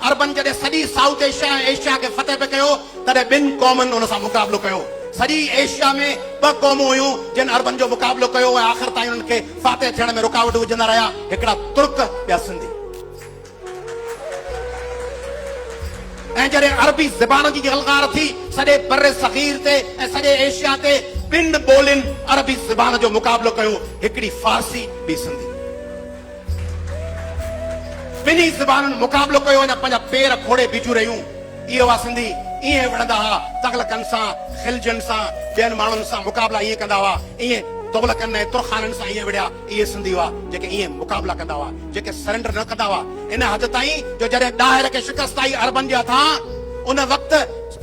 عربن جڏهن سڄي سائوٿ ايشيا ۽ ايشيا کي فتح پئي ڪيو، تڏهن ٻن قومن ان سان مقابلو ڪيو. سڄي ايشيا ۾ ٻه قومون هيون، جن عربن جو مقابلو ڪيو ۽ آخر تائين انهن کي فاتح ٿيڻ ۾ رڪاوٽون وجهندا رهيا، هڪڙا ترڪ، ٻيا سنڌي. ۽ جڏهن عربي زبان جي جهلڪار ٿي، سڄي برصغير تي ۽ سڄي ايشيا تي ٻن ٻولين عربي زبان جو مقابلو ڪيو، هڪڙي فارسي، ٻي سنڌي. ٻنهي زبانن مقابلو ڪيو ۽ پنهنجا پير کوڙي بيٺيون رهيون. اهي هئا سنڌي، ايئن وڙهندا هئا، تغلقن سان، خلجين سان، ٻين ماڻهن سان مقابلا ايئن ڪندا هئا، ايئن تغلقن ۽ ترخانن سان ايئن وڙهيا، اهي سنڌي هئا، جيڪي ايئن مقابلا ڪندا هئا، جيڪي سرينڊر نه ڪندا هئا، ان حد تائين جو جڏهن ڏاهر کي شڪست آئي عربن جي هٿان، ان وقت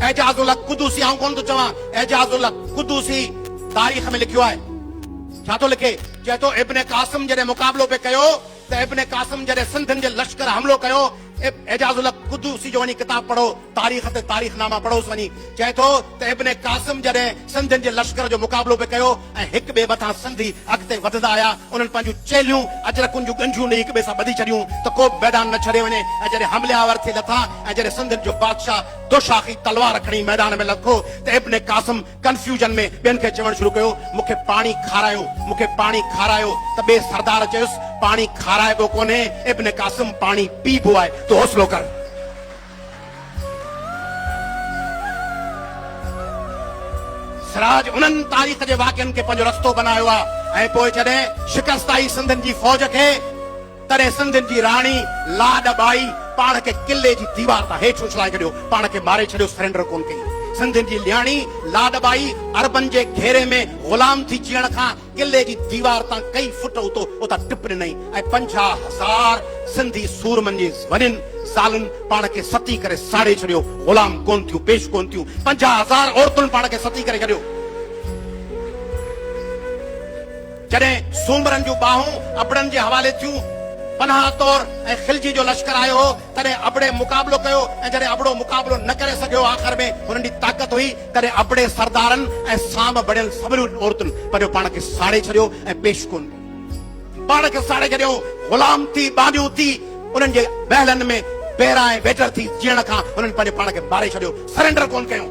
اعجاز الله قدوسي، آئون ڪونه ٿو چوان، اعجاز الله قدوسي تاريخ ۾ لکيو آهي، ڇا ٿو لکي؟ چئي ٿو ابن قاسم جڏهن مقابلو به ڪيو ته ابن قاسم جڏهن سنڌين جي لشڪر حملو ڪيو اعجاز الحق قدوسي جو وڃي ڪتاب پڙهو تاريخ تي تاريخ ناما پڙهوس وڃي چئي ٿو ته ابن قاسم جڏهن سنڌين جي لشڪر جو مقابلو به ڪيو ۽ هڪ ٻئي مٿان سنڌي اڳتي وڌندا آيا انهن پنهنجون چيلهيون اجرڪن جون ڳنڍيون ڏئي هڪ ٻئي سان ٻڌي ڇڏيون ته ڪو به ميدان نه ڇڏي وڃي ۽ جڏهن حمله آور ٿي لٿا ۽ جڏهن سنڌين جو بادشاهه دوشاخي تلوار کڻي ميدان ۾ لکو ته ابن قاسم ڪنفيوزن ۾ ٻين کي چوڻ شروع ڪيو، مون کي پاڻي کارايو، مون کي پاڻي کارايو ته ٻئي سردار چيس، پاڻي کارائبو ڪونهي ابن قاسم، پاڻي پيئبو آهي، تون حوصلو ڪر. سراج انهن تاريخ جي واقعن کي پنهنجو رستو بنايو آهي ۽ پوء جڏهن شڪست آئي سنڌين جي فوج کي. تڏهن سنڌين جي راڻي لاڏ ٻائي پاڻ کي قلعي جي ديوار تان هيٺ اڇلائي ڇڏيو، پاڻ کي ماري ڇڏيو، سرينڊر ڪونه ڪئي. سنڌين جي نياڻي لاڏ ٻائي عربن جي گهيري ۾ غلام ٿي جيئڻ کان قلعي جي ديوار تان ڪيئي فٽ اتو اتان ٽپ ڏنائين ۽ پنجاهه هزار سنڌي سورمن جي زنين زالن پاڻ کي ستي ڪري ساڙي ڇڏيو، غلام ڪونه ٿيون، پيش ڪونه ٿيون، پنجاهه هزار عورتن پاڻ کي ستي ڪري ڇڏيو. جڏهن سومرن جون ٻانهون ابڙن جي حوالي ٿيون، پناهه طور ۽ خلجي جو لشڪر آيو هو، تڏهن ابڙي مقابلو ڪيو ۽ جڏهن ابڙو مقابلو نه ڪري سگهيو، آخر ۾ هنن جي طاقت هئي، تڏهن ابڙي سردارن ۽ سام بڻيل سمرين عورتن پنهنجو پاڻ کي ساڙي ڇڏيو ۽ پيش ڪونه ڪيو. پاڻ کي ساڙي ڇڏيائون، غلام ٿي، ٻانهيون ٿي، انهن جي محلن ۾ بيرا ۽ ويٽر ٿي جيئڻ کان هنن پنهنجي پاڻ کي ماري ڇڏيو، سرينڊر ڪونه ڪيائون.